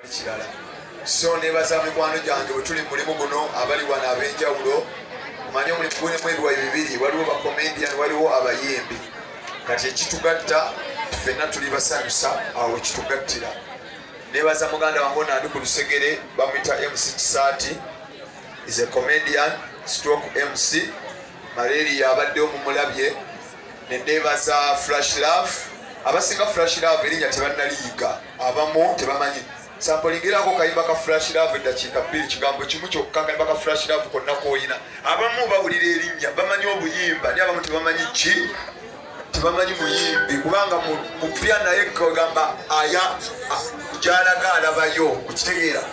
Ekirala so nebaza mikwano gyange bwe tuli mulimu guno abali wano ab'enjawulo manye omulimu gulimu ebiwayi bibiri waliwo bakomedian waliwo abayimbi kati ekitugatta fenna tuli basanyusa awo ekitugattira nebaza muganda wange ono andi ku lusegere bamwita mc kisaati is a comedian stroke mc malaria yabadde omumulabye nenebaza flash love abasinga flash love erinnya tebannaliyiga abamu tebamanyi sampolingirako kayimba ka flash love eddakiika bbiri kigambo kimu kyokka kayimba ka flash love konna koyina abamu bawulira erinnya bamanyi obuyimba naye abamu tebamanyi ki tebamanyi muyimbi kubanga mupya naye kagamba aya gyalaga alabayo okitegeera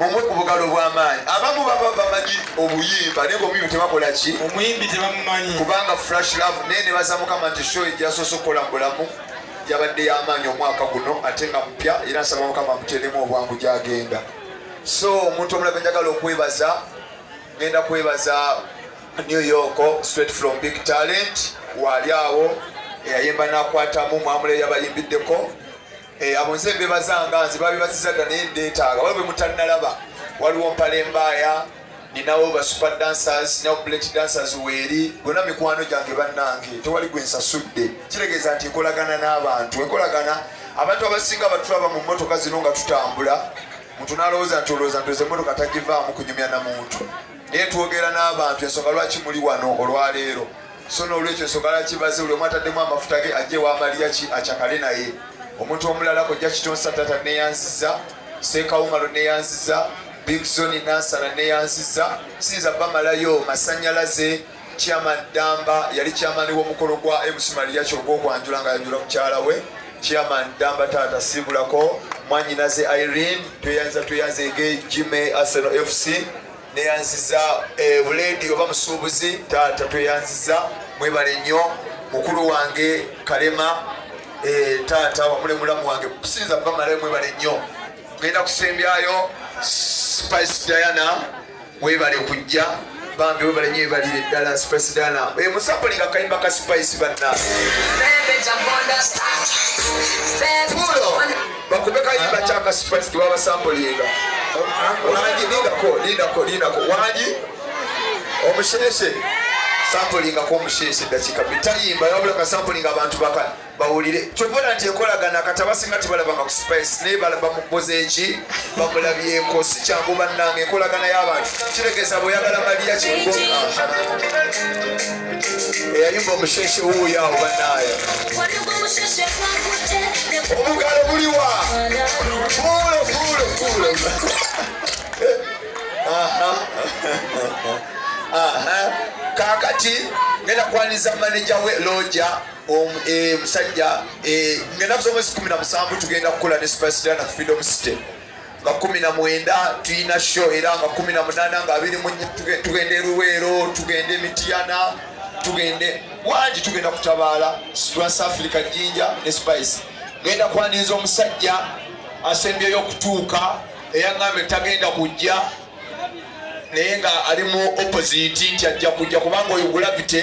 Mumwe ku bugalo bw'amaanyi. Abamu baba bamanyi obuyimba naye ng'omuyimbi tebakola ki? Omuyimbi tebamumanyi. Kubanga Flash Love naye ne baza Mukama nti show ejasoose okukola mu bulamu yabadde y'amaanyi omwaka guno ate nga mupya era nsaba Mukama amuteeremu obwangu gy'agenda. So omuntu omulala gwe njagala okwebaza ngenda kwebaza New York straight from Big Talent waali awo eyayimba n'akwatamu mwamule yabayimbiddeko Eh, abo nze mbebazanga nze babibaziza dda naye ndeetaaga waliwo bemutannalaba waliwo mpale mbaaya ninawo ba super dancers nawo bullet dancers weeri gona mikwano gyange bannange tewali gwe nsasudde kitegeeza nti enkolagana n'abantu enkolagana abantu abasinga batulaba mu mmotoka zino nga tutambula muntu nalowooza nti olowooza nti oze mmotoka tagivaamu kunyumya na muntu naye twogera n'abantu ensonga lwaki muli wano olwaleero so n'olwekyo ensonga lwaki baze buli omu ataddemu amafuta ge ajje wa maliya ki acakale naye omuntu omulala kojja kitonsa tata neyanziza seekawumalo neyanziza bigzoni nansana neyanziza siyinza bamalayo masanyalaze chairman damba yali chairman w'omukolo gwa mc maliya kyoga okwanjula nga yanjula mukyala we chairman damba taata sibulako mwanyinaze irene tweyanza tweyanza ege jime arsenal fc neyanziza eh, buledi oba musuubuzi taata tweyanziza mwebale nnyo mukulu wange kalema eh, taata wamule mulamu wange kusinza kubamalayo mwebale nnyo genda kusembyayo spice diana webale kujja bambi webale nyo ebalire ddala spice diana eh, musapulinga akayimba ka spice banna bakube kayimba kyaka spice kebabasambulinga wangi lindako lindako lindako wangi omusheshe sampulingako omusheshe dakika bitayimba yabula kasampulinga abantu baka bawulire kyobola nti enkolagana kati abasinga tibalabanga ku spice naye bamukoze eki bamulabyeko si kyangu bannanga enkolagana y'abantu kiregeza bweyagala maliya kikugonga eyayumba omusheshe wuuyo awo banaye omugalo guliwa kuulo kuulo kuulo kakati ngenda kwaniriza maneja we loja um, e, musajja e, ngenda kusoma esi kumi na musanvu tugenda kukola ne superstar na freedom city nga kumi na mwenda tulina sho era nga kumi na munana nga abiri tugende luweero tugende emitiyana tugende wangi tugenda kutabaala situlas africa jinja ne spice genda kwaniriza omusajja asembyeyo okutuuka eyaŋŋambye tagenda kujja naye nga ali mu opposite nti ajja kujja kubanga oyo gravity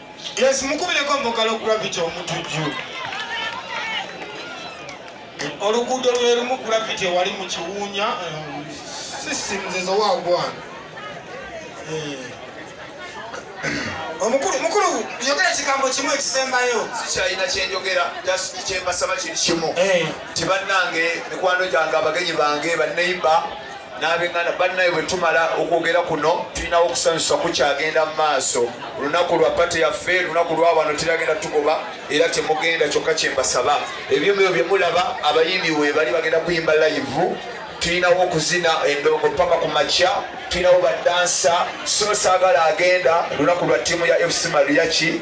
Yes, mukubireko mbogalo gravity omutujju. Oluguudo lwe lumu gravity wali mu kiwuunya eh, sisinzizo wagwana. Eh. Omukulu mukulu yogera kigambo kimu ekisembayo. Sikyalina kye njogera just kye mbasaba kiri kimu. Eh. Nti bannange mikwano gyange abagenyi bange banneyiba n'abenganda bannaye bwe tumala okwogera kuno tulinawo okusanyusa kukyagenda mu maaso olunaku lwa pate yaffe lunaku lwa wano tiragenda tugoba era temugenda kyokka kyembasaba ebyomubyo bye mulaba abayimbi we bali bagenda kuyimba layivu tulinawo okuzina endongo paka ku makya tulinawo badansa so saagala agenda lunaku lwa ttiimu ya fc mariachi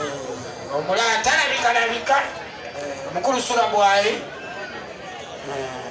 eh, omulala talabika labika eh, omukulu sula bwali eh.